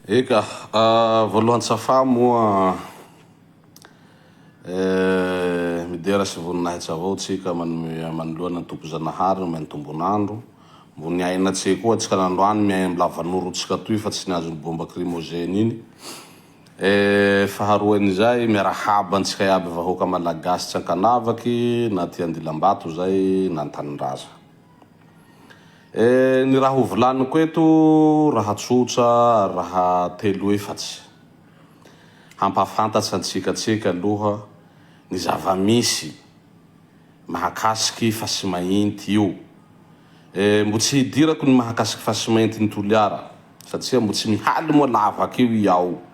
Eka, voalohany safà moa eh, midera sy voninahitsy avao tsika manome manoloana ny Tompo Zanahary nomeny tombon'andro, mbo niaina tse koa tsika nandroany miahy am lavanoro tsika toy fa tsy ny azon'ny bomba krimozeny iny eh, faharoen'izay miarahaba antsika iaby vahoaka malagasy tsy ankanavaky na aty andilambato zay na antanindraza. Eh, ny raha ho volaniko eto, raha tsotra ary raha telo efatsy, hampahafantatra antsika tsika aloha ny zava-misy mahakasiky i Fasimainty io. Eh, mbo tsy hidirako ny mahakasiky Fasimainty ny Toliara, satria mbo tsy mihaly moa lavaka io i ao.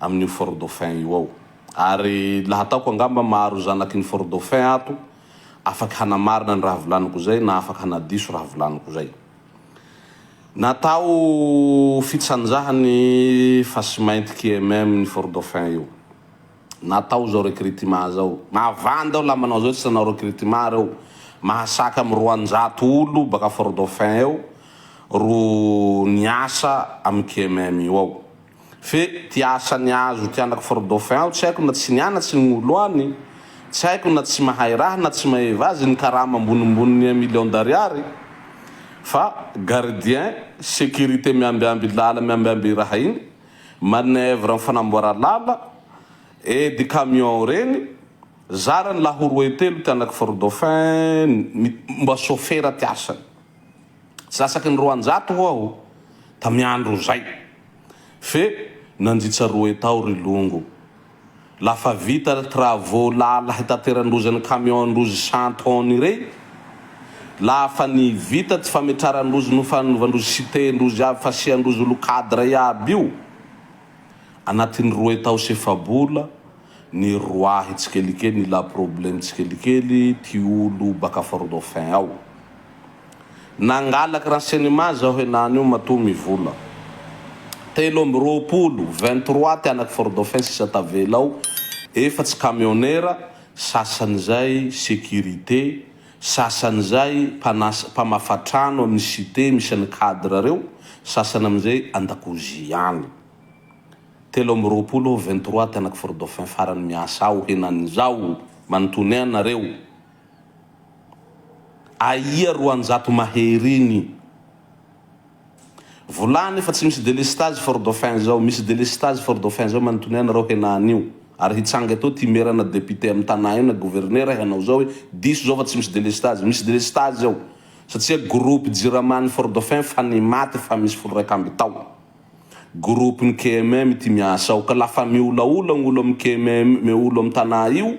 amin'io fort dauphin io ao. Ary laha ataoko angamba maro zanaky ny fort dauphin ato afaky hanamarina ny raha volaniko zay na afaky hanadiso raha volaniko zay. Natao fitsanjaha ny fasimainty kmm ny fort dauphin io. Natao zao recrutement zao. Mahavanda ao laha manao zao tsy nanao recrutement reo. Mahasaka am roanjato olo baka fort dauphin eo ro niasa am kmm io ao. Fe ty asa niazo ty anako for dauphin ao tsy haiko na tsy niana tsy nigolo any tsy haiko na tsy mahay raha na tsy mahay vazy ny karama ambonimbony ny un million d'ariary fa gardien securite miambiamby lala miambiamby raha iny manœuvre am fanamboara lala edy camion reny zarany laha ho roe telo ty anako for dauphin ny mba sofera ty asany. Tsy lasaky ny roanjato hoa o! Tamy andro zay! Fe nanjitsa roe tao ry longo! La fa vita travaux lala hitateran-drozy ny camion-ndrozy cent tonnes irey? La fa ny vita tsy fametraran-drozy no fanovan-drozy cité-ndrozy avy fasian-drozy olo cadre iaby io? Anatiny roe tao sy efa-bola ny roahy tsikelikely ny la problème tsikelikely ty olo baka fort-dauphin ao! Nangalak ra cinema zaho henany io matoa mivola telo amby roapolo, vingt trois, ty anaky fort dauphin sisa tavela ao efatsy camionera, sasany zay securite, sasany zay mpanasa mpamafa trano aminy cite misy any cadre reo, sasany amizay andakozia any. Telo amby roapolo aho vingt trois ty anaky fort dauphin farany miasa ao henany zao manontony anareo. Aia roanjato mahery iny. Volany fa tsy misy delestage fort dauphin zao misy delestage fort dauphin zao manotony any reo hena anio ary hitsanga eto ty mera na depute am tana io na governera hanao zao hoe diso zao fa tsy misy delestage misy delestage ao satsia groupe jirama any fort dauphin fa ny maty fa misy folo raika amby tao groupe ny KMM ty miasa ao ka la fa miolaola gnolo am KMM olo am tana io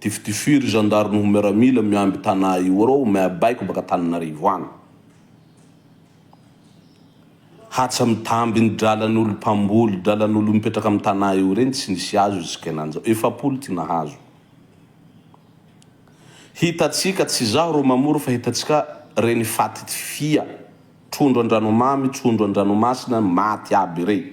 Tifitify ry zandary noho miaramila miamby Tana io arô mea baiko baka Taninarivo any. Hatsa mitamby ny dralan'olo mpamboly dralan'olo mipetraka am Tana io reny tsy nisy azo jusk'enanjao efapolo ty nahazo. Hitatsika tsy zaho ro mamory fa hitatsika reny faty tifia trondro andranomamy trondro andranomasina maty aby rey.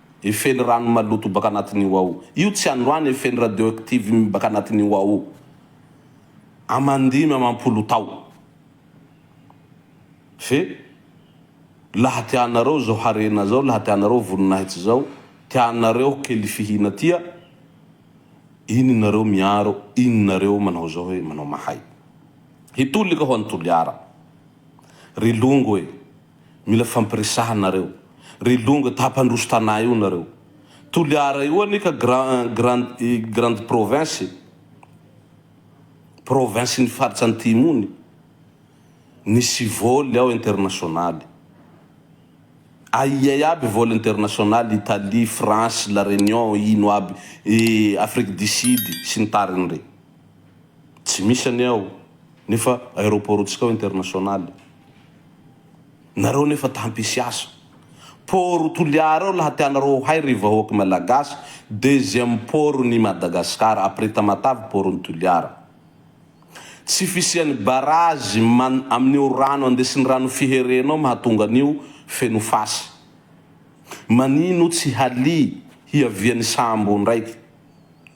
Efen'ny rano maloto baka anatin'io ao. Io tsy androany efen'ny radioactive mi baka anatin'io ao io. Aman-dimy amam-polo tao. Fe laha tianareo zao harena zao, laha tianareo voninahitsy zao, tianareo kely fihina tia, iny nareo miaro, iny nareo manao zao hoe manao mahay. Hitolika ho an'i Toliara. Ry longo e! Mila fampiresahana nareo. Ry longo ta mpandroso tana io nareo. Toliara io anie ka grand grande province province ny faritra antimo ny. Nisy vol ao international. Aia iaby vol international Italie, France, la Reunion ino aby Afrique du Sud sy ny tariny re. Tsy misy anie ao nefa aeroport tsika ao international. Nareo nefa ta hampisy asa. Port Toliara eo laha tianareo ho hay ry vahoaky Malagasy, deuxième port n'i Madagascar après Tamatave port n'i Toliara. Tsy fisian'ny barrage man amin'io rano andesin'ny rano fiherena io mahatonga an'io feno fasy. Manino tsy halia hiavian'ny sambo ndraiky.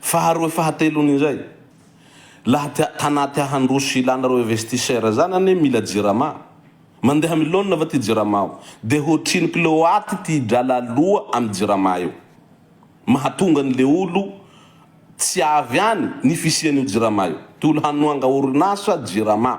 Faharoa fahatelony indray laha tia tanà tia handroso sy ilana reo investisseur zany anie mila jirama mandeha milona va ty jirama ao de hoatrino kiloaty ty drala aloa am jirama eo mahatonga ny le olo tsy avy any ny fisian'io jirama io ty olo hanoanga orinasa jirama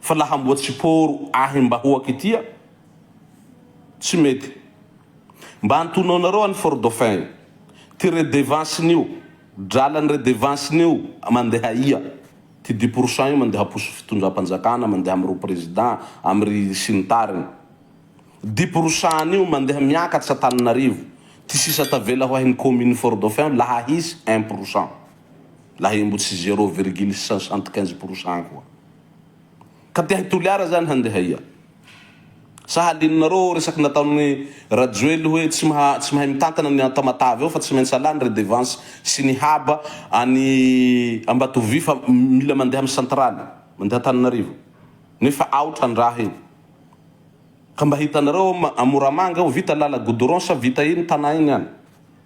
fa laha mboa tsy poro ahy mba hoaky tia tsy mety mba antonoanareo any fort dauphin ty redevance nio drala ny redevance nio mandeha ia ty dix pour cent io mandeha poso fitondrampanjakana mandeha amy ro president amy ry sy ny tariny dix pour cent nio mandeha miakatsa taninarivo ty sisa tavela ho ahy ny commune fort dauphin laha hisy un pour cent Lahimbo tsy zero virgule cent soixante quinze pour cent koa. Ka te hi-Toliara zany handeha aia? Sa halinonareo resaky nataon'i Rajoely hoe tsy maha tsy mahay mitantana ny Tamatave ao fa tsy maintsy alà ny redevance sy ny haba any Ambatovy fa mila mandeha amin'ny centrale mandeha Antananarivo nefa aotra ny raha iny. Ka mba hitanareo ao Moramanga ao vita lala goudron sa vita iny tanà iny any?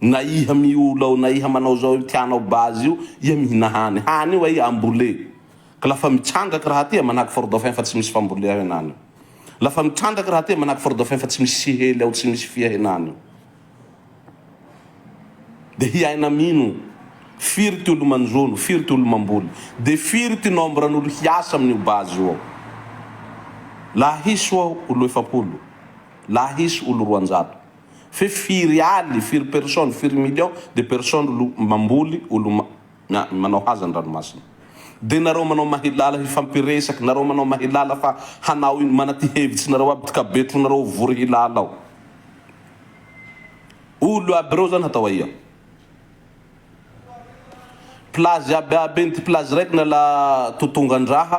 Na iha miola ao na iha manao zao io tianao base io, iha mihina hany, hany io aiy ambole. Ka lafa mitrandraky raha ty iha manahaky fort dauphin fa tsy misy fambole ao henany io. Lafa mitrandraky raha ty iha manahaky fort dauphin fa tsy misy sihely ao tsy misy fia henany io. De hiaina amino firy ty olo manjono, firy ty olo mamboly. De firy ty nombre an'olo hiasa aminio base io ao. Laha hisy oa olo efapolo, laha hisy olo roanjato. fe firy aly firy personne firy million de personne olo mamboly olo ma manao haza ny ranomasina de nareo manao mahilala hifampiresaky nareo manao mahilala fa hanao ino manaty hevitsy nareo aby dkabetro nareo vory hilala ao olo aby reo zany hatao aia plage aby aby eny ty plage raiky nala totongandraha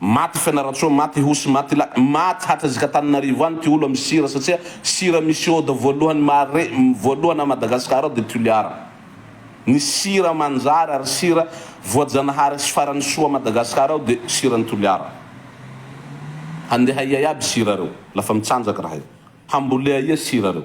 Maty Fianarantsoa Maty Ihosy Maty Ilay Maty Hatrizika Antananarivo any ity olo amin'ny sira satria sira misy ioda voalohany mahare voalohany à Madagascar ao dia Toliara Ny sira manjary ary sira voajanahary sy farany soa à Madagascar ao dia siran'i Toliara Handeha aia iaby sira reo lafa mitsanjaka raha io Hambolea aia sira reo.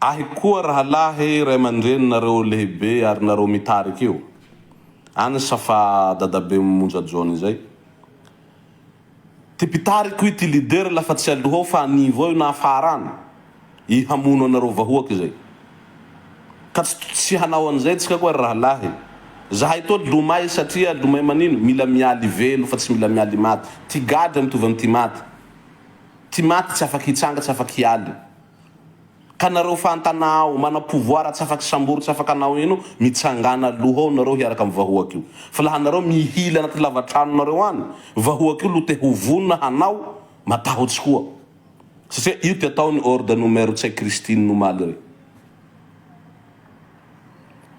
Ahy koa rahalahy ray aman-dreny nareo lehibe ary nareo mitarika io any sa fa dadabe monja john izay ty mpitariko io ty leader la fa tsy aloha ao fa anivo ao io na afara any i hamono anareo vahoaka izay ka tsy tsy hanao an'izay tsika koa ry rahalahy zahay toa lomay satria lomay manino mila mialy velo fa tsy mila mialy maty ty gadra mitovy amty maty Tsy maty tsy afa-kitsanga tsy afa-kialy Ka nareo fantana ao Mana pouvoir tsy afa-kisambory tsy afa-kanao ino Mitsangana aloha ao nareo hiaraka amin'ny vahoaka io Fa laha nareo mihily anaty lava-tranonareo any Vahoaka io lo te ho vonona hanao Matahotsy koa Satria io ty ataony Horde no Mero Tsay Christine omaly re.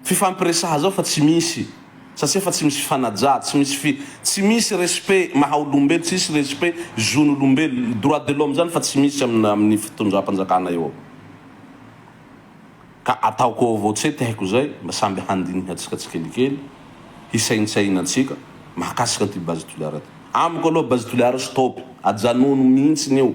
fifampiresaha zao fa tsy misy satsia fa tsy misy fifanaja, tsy misy fi, tsy misy respect maha olombelo, tsy hisy respect zon' olombelo, droit de l'homme zany fa tsy misy amin' amin' ny fitondram-panjakana eo ka ataoko eo avao tse tehiko zay mba samby handinihantsika tsikelikely, hisaintsainantsika mahakasika an'ity base Toliara ty. Amiko aloha base Toliara stop, ajanony mihintsiny io.